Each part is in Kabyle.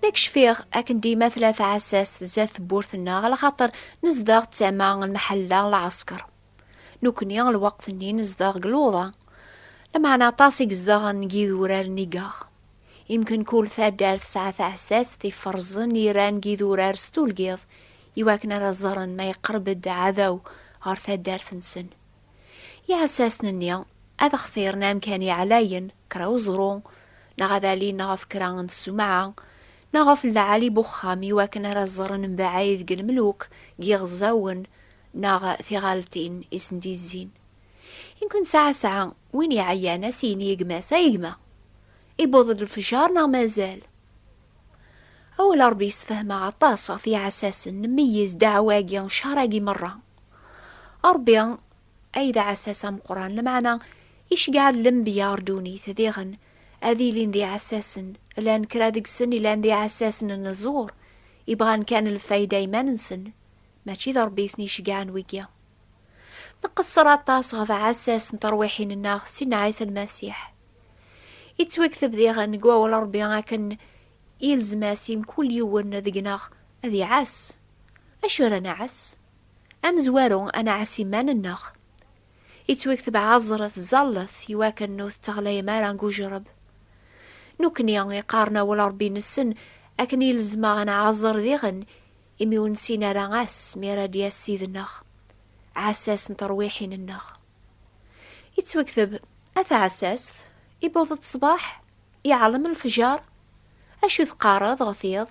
Ma kcfiɣ akken dima tella tɛessast zdat tewwurt-nneɣ ala xaṭer nezdeɣ d tama n lmeḥalla n lɛesker. Nekkni lweqt-nni nezdeɣ deg luḍa, lameɛna aṭas i yezdeɣen deg yidurar n igeɣ. Imken kul taddart tesɛa taɛessast iferrzen iran deg yidurar s tulgiḍ iwakken ara ẓren ma yeqreb-d aɛdaw ɣer taddart-nsen. Iɛessasten-nni ad xtiren amkan yeɛlayen, kra uẓru, neɣ ad alin ɣef kra n ssumɛa, neɣ ɣef lɛali n uxxam i wakken ara ẓren mbaɛid deg lemluk, deg yiɣeẓẓawen, neɣ tiɣaltin i sen-d-yezzin. I nekk nesɛa sɛa, win iɛeyyan a s-yini i gma-s, Ay gma! Iwweḍ-d lefjer neɣ mazal? Awal Ṛebbi yessefhem-aɣ aṭas ɣef yiɛessasen, nmeyyez ddeɛwa-agi, cceṛ-agi meṛṛa. Ṛebbi ay d aɛessas ameqqran lmeɛna icegɛen lembiya ɣer ddunit diɣen ad ilin d iɛessasen llan kra deg-sen ilan d iɛessasen n ẓẓur ibɣan kan lfayda iman-nsen mačči d rebbi i ten-icegɛen wigi nqesser aṭas ɣef aɛessas n terwiḥin-nneɣ sidna ɛisa lmasiḥ yettwakteb diɣen deg wawal rebbi akken yelzem-as i mkul yiwen deg-neɣ ad iɛass acu ara nɛass Amezwaru ad nɛass iman-nneɣ. Ittwikteb ɛeẓret ẓallet i wakken ur tetteɣlayem ara deg ujereb. Nekkni iqqaren awal Rebbi nessen akken i lezmeɣ ad nɛeẓẓer diɣen imi ur nessin ara ass mi ara d-yass Ssid-nneɣ, ɛessas n terwiḥin-nneɣ. Ittwikteb, A taɛessast, iwweḍ-d ṣṣbeḥ, iɛellem lefjer. Acu teqqareḍ ɣef yiḍ?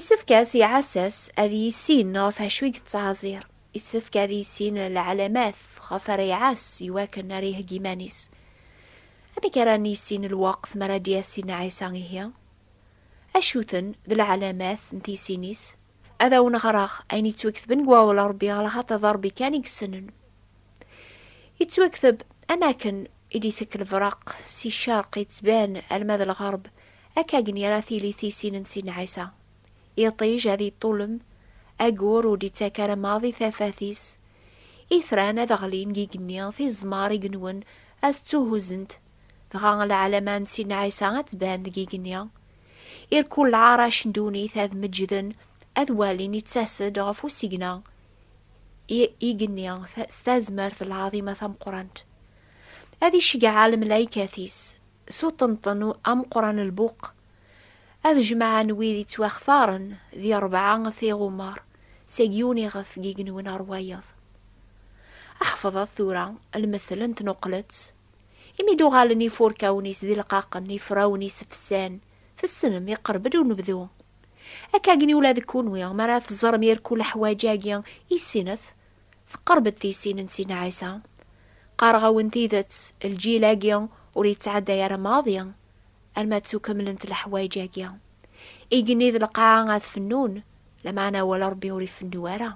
Isefk-as i ɛessas ad yissin ɣef acu i yettɛeẓẓir. Isefk ad yissin lɛalamat ɣef ara iɛass i wakken ara iheggi iman-is. Amek ara nissin lweqt mi ara d-yas Sidna Ɛisa ihi? Acu-ten d lɛalamat n tisin-is? Ad awen-ɣreɣ ayen yettwaktben deg Wawal n Ṛebbi ɣer lxaṭer d Ṛebbi kan i yessnen. Yettwakteb, Am wakken i d-itekk lebreq si ccerq yettban alma d lɣerb, Akkagen ara tili tisin n Sidna Ɛisa. Iṭij ad iṭṭulem, agur ur d-ittak ara maḍi tafat-is. Itran ad ɣlin deg igenni, tiẓmar i inwen ad ttuhuzent, dɣa lɛalama n Sidna Ɛisa ad tban deg igenni. Irkul lɛarac n ddunit ad meǧǧden, ad walin ittas-d ɣef usigna i igenni s tazmert lɛaḍima tameqqrant. Ad iceggeɛ lmelaykat-is. S uṭenṭen ameqqran n lbuq, ad jemɛen wid yettwaxtaren di rebɛa tiɣumar seg yiwen iɣef i yenwen ar wayeḍ. Ḥefḍet tura lmettel n tnuqlet, Imi i d-uɣalen ifurkawen-is d ileqqaqen, ifrawen-is fsan. Tessnem, iqerreb-d unebdu. Akkagni ula d kunwi, mi ara teẓrem irku leḥwaǧ-agi, issinet. Teqreb-d tisin n Sina Ɛisa. Qqareɣ-awen tidet, lǧil-agi ur yettɛadday ara maḍi, alma ttukemlent leḥwayeǧ-agi. Igenni d lqaɛa ad fennun, lameɛna awal Ṛebbi ur ifennu ara.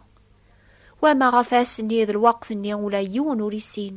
Wamma ɣef ass-nni d lweqt-nni ula yiwen ur isin,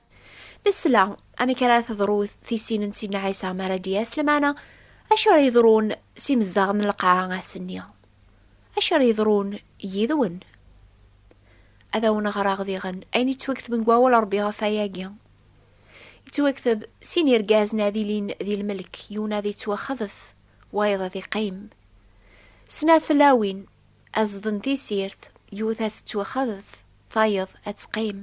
Nesla amek ara teḍru tisin n Sidna Ɛisa mi ara d-yas lemana acu ara yeḍrun s imezdaɣ n lqaɛa ass-nni. Acu ara yeḍrun yid-wen? Ad awen-ɣreɣ diɣen ayen yettwakteb deg wawal Rebbi ɣef wayagi. Yettwakteb sin irgazen ad ilin di lmelk, yiwen ad yettwaxḍef, wayeḍ ad iqqim. Snat tlawin, Aẓeḍ n tisirt yewwet ad tettwaxaḍef, tayeḍ ad teqqim.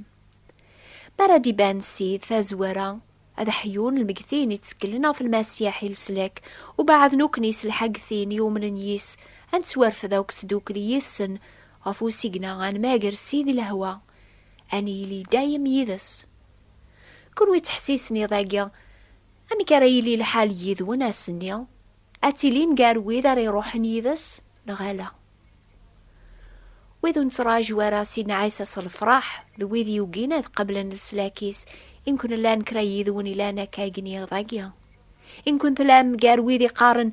Mi ara d-iban Ssid tazwara, ad aḥyun lmegtin ittekklen ɣef Lmasiḥ i leslak, ubeɛɛed nukni s lḥag tin iumnen yis, ad nettwarfed akk sdukli yid-sen ɣef usigna ad nmager Ssid i lehwa, ad nili dayem yid-s. Kunwi ttḥessisen iḍ-agi, amek ara yili lḥal yid-wen ass-nni? Ad tilim gar wid ara iruḥen yid-s neɣ ala? Wid ur nettraǧu ara Sidna Ɛisa s lefṛaḥ d wid yugin ad qeblen leslak-is, i nkun llan kra yid-wen ilan akka i gniɣ dagi? I nkun tlam gar wid iqqaren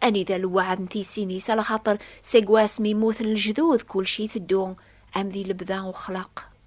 anida lweɛd n tisin-is, ala xaṭer seg wasmi mmuten lejdud kulci iteddu am di lebda uxlaq?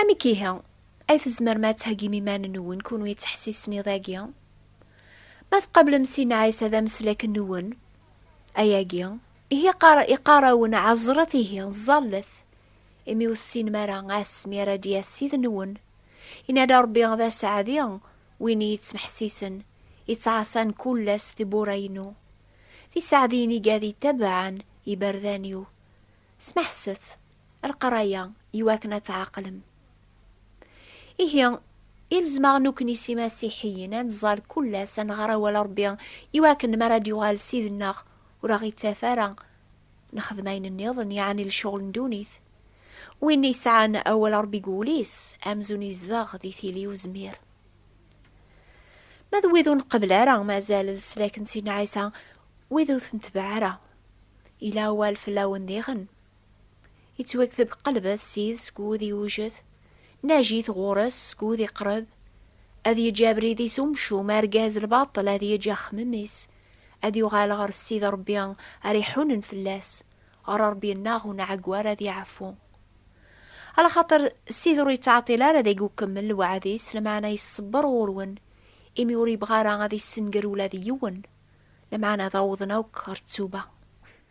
Amek ihi ay tzemrem ad theggim iman-nwen kunwi d teḥsisnid-agi? Ma tqablem Sidna Ɛisa d ameslak-nwen, ayagi, ihi iqqar-awen ɛeẓret ihi, ẓẓallet, imi ur tessinem ara ass mi ara d-yas Sid-nwen. Yenna-d Rebbi d aseɛdi win i yettmeḥsisen, yettɛaṣan kull ass tiwwura-inu. D iseɛdiyen iga d itabaɛen iberdan-iw. Smeḥset, Lqraya iwakken ad tɛaqlem. Ihi, ilzem-aɣ nukni s imasiḥiyen ad nẓal kul ass ad nɣer awal Rebbi iwakken mi ara d-yuɣal Ssid-nneɣ ur aɣ-ittaf ara nexdem ayen nniḍen, yeɛni lecɣel n ddunit. Win yesɛan awal Rebbi deg wul-is, amzun yezdeɣ di tili uzmir. Ma d wid ur nqebbel ara mazal leslak n Sidna Ɛisa, wid ur t-netbeɛ ara, yella awal fell-awen diɣen. Yettwakteb qelb at sid seg wud iwjed, najit ɣur-s seg wud iqreb, ad yeǧǧ abrid-is umcum, argaz lbaṭel ad yeǧǧ axemmem-is, ad yuɣal ɣer Ssid Ṛebbi ara iḥunen fell-as, ɣer Ṛebbi-nneɣ unɛeggu ara ad yeɛfu. Alaxaṭer Ssid ur yettɛeṭṭil ara deg ukemmel lewɛed-is, lameɛna iṣebber ɣur-wen, imi ur yebɣi ara ad issenger ula d yiwen, lameɛna ad awḍen akk ɣer ttuba.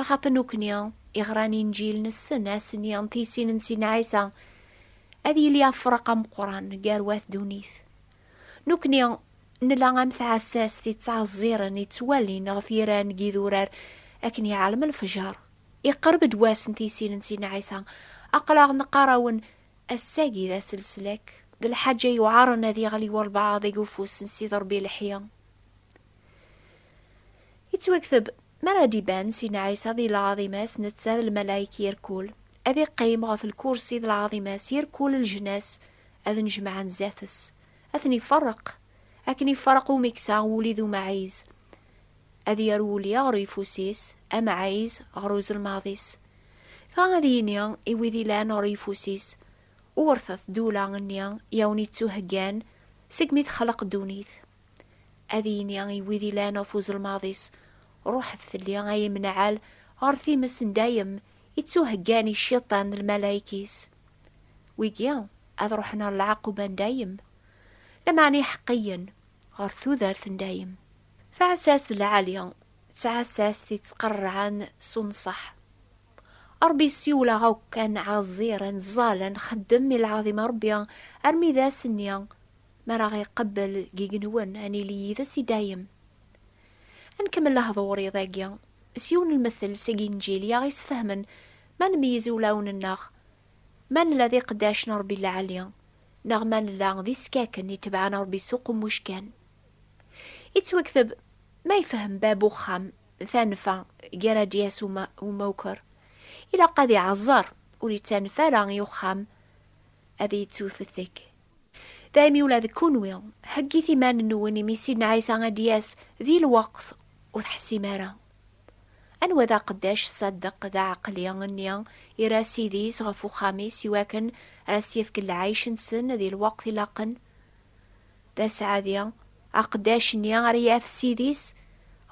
Lxaṭ nukni, iɣran inǧil nessen ass-nni n tisin n sin Ɛisa, ad yili afraq ameqqran gar wat dunit. Nukni nla am tɛessast yettɛezziren yettwalin ɣef yiran n yidurar akken iɛalem lefjer. Iqerreb-d wass n tisin n sin Ɛisa. Aql-aɣ neqqar-awen ass-agi d ass leslak, d lḥaǧa yuɛren ad yeɣli walbaɛḍ deg ufus n Sidi Rebbi leḥya. Yettwakteb, mi ara d-iban Sidna Ɛisa di lɛaḍima-s, netta d lmalayek irkul, ad iqqim ɣef lkursi d lɛaḍima-s, irkul leǧnas ad nnejmaɛen zdat-s, ad ten-iferreq, akken iferreq umeksa wuli d umaɛiz, ad yerr wuli ɣer uyeffus-is, amaɛiz ɣer uzelmaḍ-is. Dɣa ad yini i wid ilan ɣer uyeffus-is, Wurtet ddula-nni i awen-ittuheggan segmi texleq ddunit. Ad yini i wid ilan ɣef uzelmaḍ-is, Ruḥet fell-i ay imnaɛal ɣer times n dayem i ttuheggan i Cciṭan d lmalayek-is. Wigi ad ruḥen ɣer lɛaquba n dayem, lameɛna iḥeqqiyen ɣer tudert n dayem. Taɛessast lɛali d tɛessast yettqerrɛen s unṣeḥ. Ṛebbi yessiwel-aɣ akk ad nɛeẓẓir, ad nẓẓal, ad nxeddem i lɛaḍima n Ṛebbi armi d ass-nni Mi ara ɣ-iqebbel deg yigenwen, ad nili yid-s i dayem. Ad nkemmel lehdur iḍ agi s yiwen n lmettel seg Inǧil i aɣ-isfehmen ma nmeyyez iwlawen-nneɣ, ma nella d iqeddac n Rebbi lɛali, neɣ ma nella d iskaken itebɛen Rebbi s uqemmuc kan. Ittwekteb ma ifehhem bab uxxam tanfa gar adyas u umawker, ilaq ad iɛeẓẓer ur ittanef ara i uxxam ad ittuwfetek. Daymi ula d kunwi, heggit iman-nwen imi Sidna Ɛisa ad d-yas di lweqt ur teḥsim ara. Anwa d aqeddac ṣṣaddeq d aɛeqli nni ira Ssid-is ɣef uxxam-is i wakken ar as-yefk lɛic-nsen di lweqt ilaqen? D aseɛdi, aqeddac-nni ara yaf Ssid-is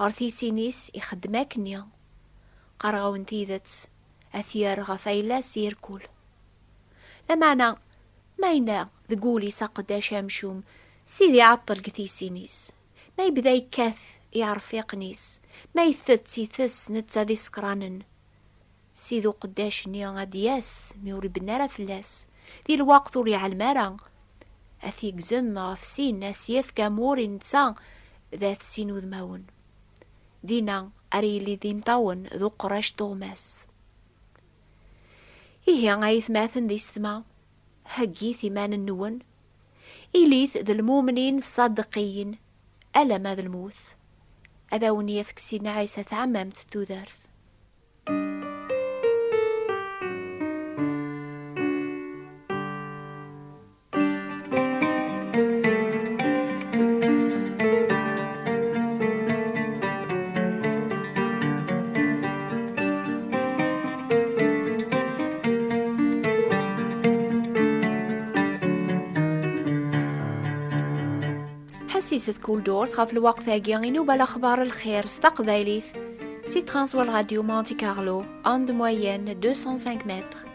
ɣer tisin-is ixeddem akkenni. Qqareɣ-awen tidet, ad t-yerr ɣef ayla-s irkul. Lameɛna, ma yenna deg wul-is aqeddac amcum, Sidi iɛeṭṭel deg tiysin-is, ma yebda yekkat iɛerfiqen-is, ma itett itess netta d isekranen, Sidi uqeddac-nni ad d-yas mi ur ibenna ara fell-as, di lweqt ur iɛellem ara, ad t-yegzem ɣef sin, ad s-yefk amur i netta d at sin udmawen. Dinna ara yili d imeṭṭawen d uqerrac tuɣmast. Ihi ay atmaten d isetma, heggit iman-nwen, ilit d lmumnin ṣṣadeqqiyin, alamma d lmut, ad awen-yefk Sidna Ɛisa tɛemmamt tudert. ḥsiset kul durt ɣef lwaqt-agi i nuba laxbar lxir s taqbaylit si Transworld Radio Monte Carlo, onde moyenne 205 mètres.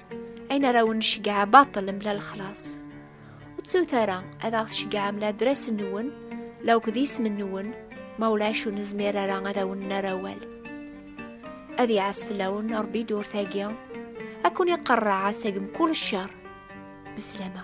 ayen ara wen-necgeɛ baṭel mla lexlaṣ. Ur ttut ara ad aɣ-tceggɛem la adras-nwen, la akk d isem-nwen, ma ulac ur nezmir ara ad awen-nerr awal. Ad iɛas fell-awen Ṛebbi ddurt-agi, ad ken-iqerreɛ seg mkul cceṛ. Meslama.